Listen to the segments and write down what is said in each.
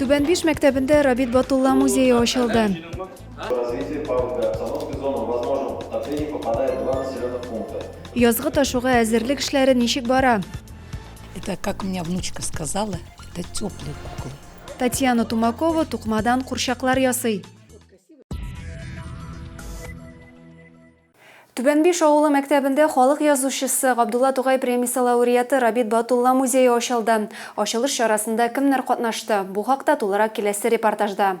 Түбән Биш мәктәбендә Рабит Батулла музее ачылды. Язгы ташуга әзерлек эшләре ничек бара? Это, как у меня внучка сказала, это теплые куклы. Татьяна Тумакова тукмадан курчаклар ясый. Түбәнбиш авылы мәктәбендә халык язучысы, Габдулла Тукай премиясе лауреаты Рабит Батулла музее ачылды. Ачылыш чарасында кемнәр катнашты? Бу хакта тулырак киләсе репортажда.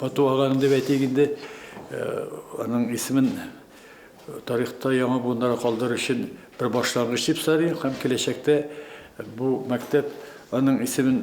Батуаган дип әйтик инде, аның исемен тарихта яңа буыннарга калдыру өчен бер башлангыч дип саныйм һәм киләчәктә бу мәктәп аның исемен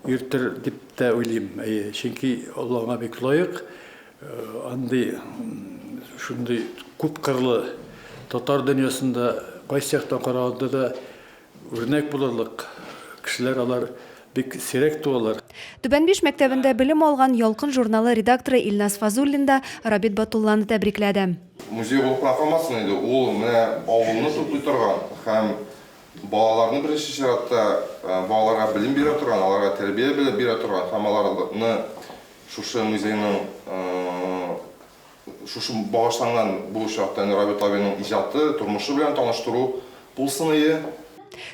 йөртер дип тә уйлыйм. Әйе, чөнки ул аңа бик лаек. Андый, шундый күпкырлы татар дөньясында кайсы яктан караганда да Үрнәк булырлык кешеләр алар бик сирәк туалар. Түбәнбиш мәктәбендә белем алган Ялкын журналы редакторы Илназ Фазуллин да Рабит Батулланы тәбрикләде. Музей булып кына калмасын инде, ул менә авылны туплый торган һәм балаларны беренче чиратта балаларга белем бирә торган, аларга тәрбия бирә торган һәм аларны шушы музейның Шушы багышланган бу очракта инде Рабит абыйның иҗаты, тормышы белән таныштыру булсыные.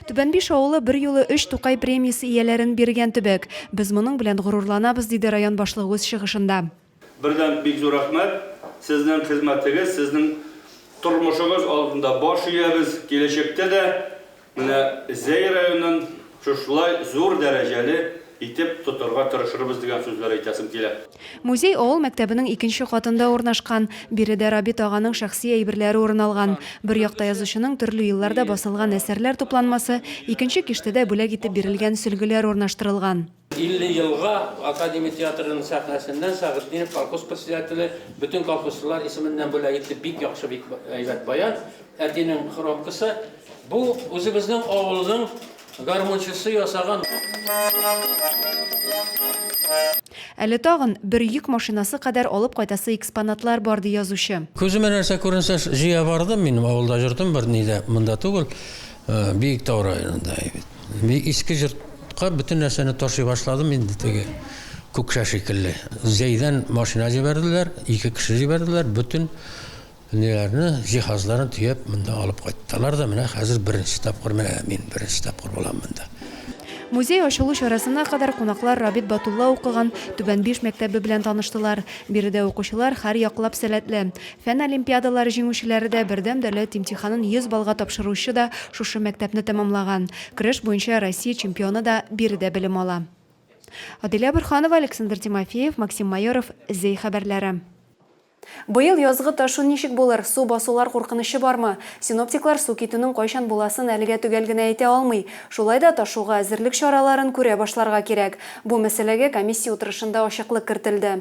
Түбәнбиш авылы берьюлы өч Тукай премиясе ияләрен биргән төбәк. Без моның белән горурланабыз, диде район башлыгы үз чыгышында. Бердәм бик зур рәхмәт! Сезнең хезмәтегез, сезнең тормышыгыз алдында баш иябез, киләчәктә дә Менә Зәй районын шушылай зур дәрәҗәле итеп тотарга тырышырбыз дигән сүзләр әйтәсем килә. Музей авыл мәктәбенең икенче катында урнашкан. Биредә Рабит аганың шәхси әйберләре урын алган. Бер якта язучының төрле елларда басылган әсәрләр тупланмасы, икенче киштәдә бүләк итеп бирелгән сөлгеләр урнаштырылган. 50 елга Академия театрының сәхнәсендә Сәгыйтдинов колхоз председателе бөтен колхозчылар исеменнән бүләк итте. Бик яхшы, бик әйбәт баян. Әтинең хромкасы. Бу үзебезнең авылның гармунчысы ясаган. Әле тагын бер йөк машинасы кадәр алып кайтасы экспонатлар бар, ди язучы. Күземә нәрсә күренсә, җыя бардым. Мин авылда йөрдем, берни дә монда түгел. Биектау районында бит. Мин иске җортка бөтен нәрсәне ташый башладым инде теге Күкшә шикелле. Зәйдән машина җибәрделәр, ике кеше җибәрделәр, бөтен ниләрне, җиһазларын төяп монда алып кайттылар да менә хәзер беренче тапкыр менә мин беренче тапкыр булам монда. Музей ачылу чарасына кадәр кунаклар Рабит Батулла укыган Түбән Биш мәктәбе белән таныштылар. Биредә укучылар һәр яклап сәләтле. Фән олимпиадалары җиңүчеләре дә, бердәм дәүләт имтиханын 100 баллга тапшыручы да шушы мәктәпне тәмамлаган. Көрәш буенча Россия чемпионы да биредә белем ала. Аделя Борһанова, Александр Тимофеев, Максим Майоров, Зәй хәбәрләре. Быел язгы ташу ничек булыр, су басулар куркынычы бармы? Синоптиклар су китүнең кайчан буласын әлегә төгәл генә әйтә алмый. Шулай да ташуга әзерлек чараларын күрә башларга кирәк. Бу мәсьәләгә комиссия утырышында ачыклык кертелде.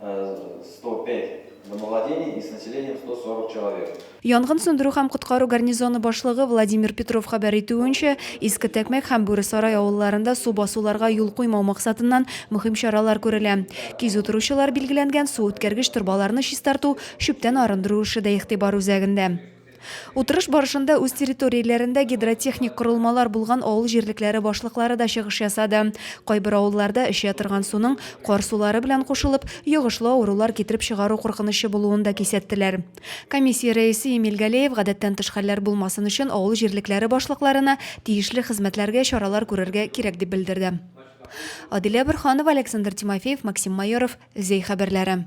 105 домовладений и с населением 140 человек. Янгын сүндерү һәм коткару гарнизоны башлыгы Владимир Петров хәбәр итүенчә, Иске Тәкмәк һәм Бүре Сарай авылларында су басуларга юл куймау максатыннан мөһим чаралар күрелә. Кизү торучылар билгеләнгән су үткәргеч торбаларны чистарту, чүптән арындыру эше дә игътибар үзәгендә. Утырыш барышында үз территорияләрендә гидротехник корылмалар булган авыл җирлекләре башлыклары да чыгыш ясады. Кайбер авылларда эчә торган суның кар сулары белән кушылып, йогышлы авырулар китереп чыгару куркынычы булуын да кисәттеләр. Комиссия рәисе Эмиль Галеев гадәттән тыш хәлләр булмасын өчен авыл җирлекләре башлыкларына тиешле хезмәтләргә чаралар күрергә кирәк дип белдерде. Адилә Борһанова, Александр Тимофеев, Максим Майоров, Зәй хәбәрләре.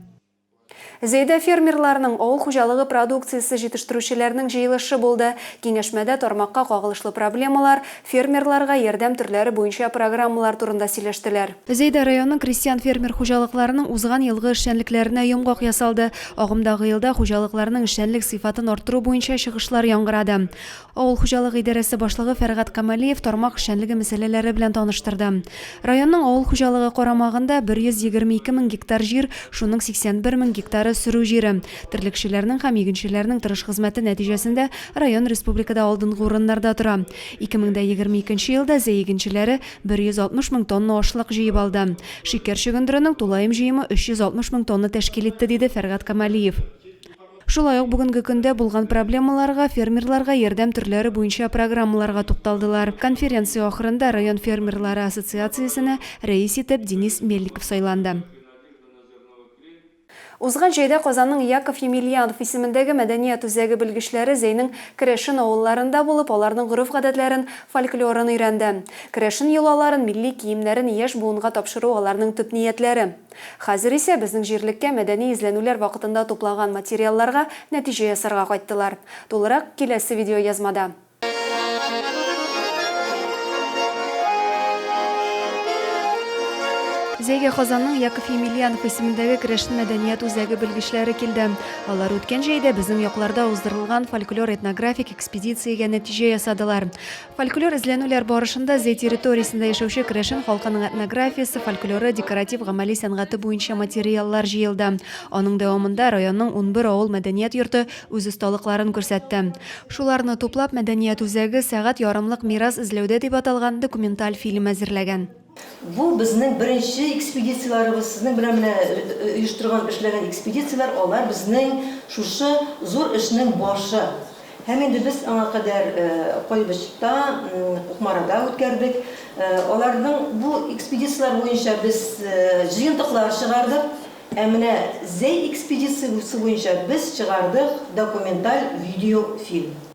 Зәйдә фермерларның, авыл хуҗалыгы продукциясе җитештерүчеләрнең җыелышы булды. Киңәшмәдә тармакка кагылышлы проблемалар, фермерларга ярдәм төрләре буенча программалар турында сөйләштеләр. Зәйдә районының крестьян-фермер хуҗалыкларының узган елгы эшчәнлекләренә йомгак ясалды. Агымдагы елда хуҗалыкларның эшчәнлек сыйфатын арттыру буенча чыгышлар яңгырады. Авыл хуҗалыгы идарәсе башлыгы Фәргать Камалиев тармак эшчәнлеге мәсьәләләре белән таныштырды. Районның авыл хуҗалыгы карамагында 122 мең гектар җир, шуның 81 мең гектары, сөрү җире. Терлекчеләрнең һәм игенчеләрнең тырыш хезмәте нәтиҗәсендә район республикада алдынгы урыннарда тора. 2022 елда Зәй игенчеләре 160 мең тонна ашлык җыеп алды. Шикәр чөгендеренең тулаем җыемы 360 мең тонна тәшкил итте, диде Фәргать Камалиев. Шулай ук бүгенге көндә булган проблемаларга, фермерларга ярдәм төрләре буенча программаларга тукталдылар. Конференция ахырында район фермерлары ассоциациясенә рәис итеп Денис Мельников сайланды. Узган җәйдә Казанның Яков Емельянов исемендәге мәдәният үзәге белгечләре Зәйнең керәшен авылларында булып, аларның гореф-гадәтләрен, фольклорын өйрәнде. Керәшен йолаларын, милли киемнәрен яшь буынга тапшыру аларның төп ниятләре. Хәзер исә безнең җирлеккә мәдәни эзләнүләр вакытында туплаган материалларга нәтиҗә ясарга кайттылар. Тулырак, киләсе видеоязмада. Зәйгә Казанның Яков Емельянов исемендәге керәшен мәдәният үзәге белгечләре килде. Алар үткән җәйдә безнең якларда уздырылган фольклор-этнографик экспедициягә нәтиҗә ясадылар. Фольклор эзләнүләр барышында Зәй территориясендә яшәүче керәшен халкының этнографиясе, фольклоры, декоратив-гамәли сәнгате буенча материаллар җыелды. Аның дәвамында районның унбер авыл мәдәният йорты үз осталыкларын күрсәтте. Шуларны туплап, мәдәният үзәге Сәгать ярымлык мирас эзләүдә дип аталган документаль фильм әзерләгән. Бу безнең беренче экспедицияләребез. Сезнең белән менә оештырган, эшләгән экспедицияләр, алар безнең шушы зур эшнең башы. Һәм инде без аңа кадәр Кайбычта, Кукмарада үткәрдек. Аларның бу экспедицияләр буенча без җыентыклар чыгардык. Ә менә Зәй экспедициясе буенча без чыгардык документаль видеофильм.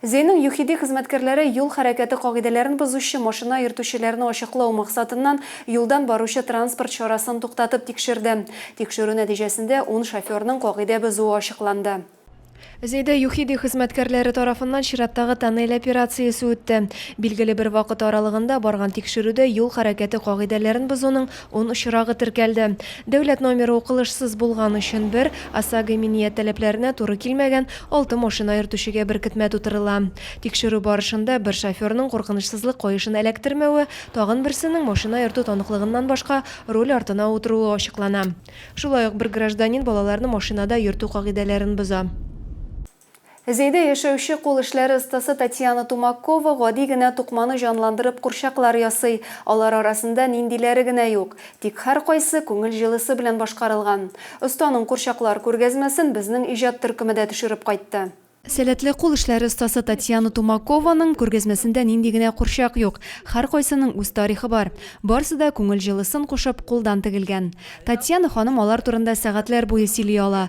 Зейның ЮХИДИ хезмәткәрләре юл хәрәкәте кагыйдәләрен бозучы машина йөртүчеләрне ачыклау максатыннан юлдан баручы транспорт чарасын туктатып тикшерде. Тикшерү нәтиҗәсендә ун шоферның кагыйдә бозуы ачыкланды. Зейда ЮХИДИ хезмәткәрләре тарафыннан чираттагы тоннель операциясе үтте. Билгеле бер вакыт аралыгында барган тикшерүдә юл хәрәкәте кагыйдәләрен бозуның Ун очрагы теркәлде. Дәүләт номеры укылышсыз булган өчен бер, ОСАГО иминият таләпләренә туры килмәгән алты машина йөртүчегә беркетмә тутырыла. Тикшерү барышында бер шоферның куркынычсызлык каешын эләктермәве, тагын берсенең машина йөртү таныклыгыннан башка руль артына утыруы ачыклана. Шулай ук бер гражданин балаларны машинада йөртү кагыйдәләрен боза. Зәйдә яшәүче кул эшләре остасы Татьяна Тумакова гади генә тукманы җанландырып курчаклар ясый. Алар арасында ниндиләре генә юк. Тик һәркайсы күңел җылысы белән башкарылган. Останың курчаклар күргәзмәсен безнең иҗат төркеме дә төшереп кайтты. Сәләтле кул эшләре остасы Татьяна Тумакованың күргәзмәсендә нинди генә курчак юк. Һәркайсының үз тарихы бар. Барсы да күңел җылысын кушып, кулдан тегелгән. Татьяна ханым алар турында сәгатьләр буе сөйли ала.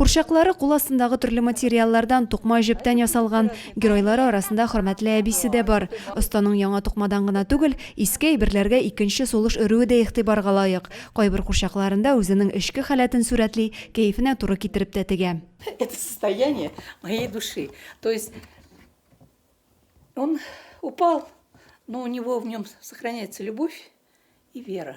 Курчаклары кул астындагы төрле материаллардан, тукма, җептән ясалган. Геройлары арасында хөрмәтле әбисе дә бар. Останың яңа тукмадан гына түгел, иске әйберләргә икенче сулыш өрүе дә игътибарга лаек. Кайбер курчакларында үзенең эчке халәтен сурәтли, кәефенә туры китереп тә тегә. Это состояние моей души. То есть он упал, но у него в нем сохраняется любовь и вера.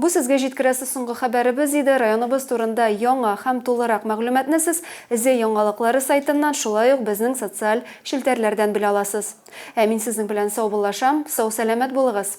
Бу сезгә җиткерәсе соңгы хәбәребез иде. Районыбыз турында яңа һәм тулырак мәгълүматны сез Зе яңалыклары сайтыннан, шулай ук безнең социаль челтәрләрдән белә аласыз. Ә мин сезнең белән саубуллашам, сау-сәламәт булыгыз!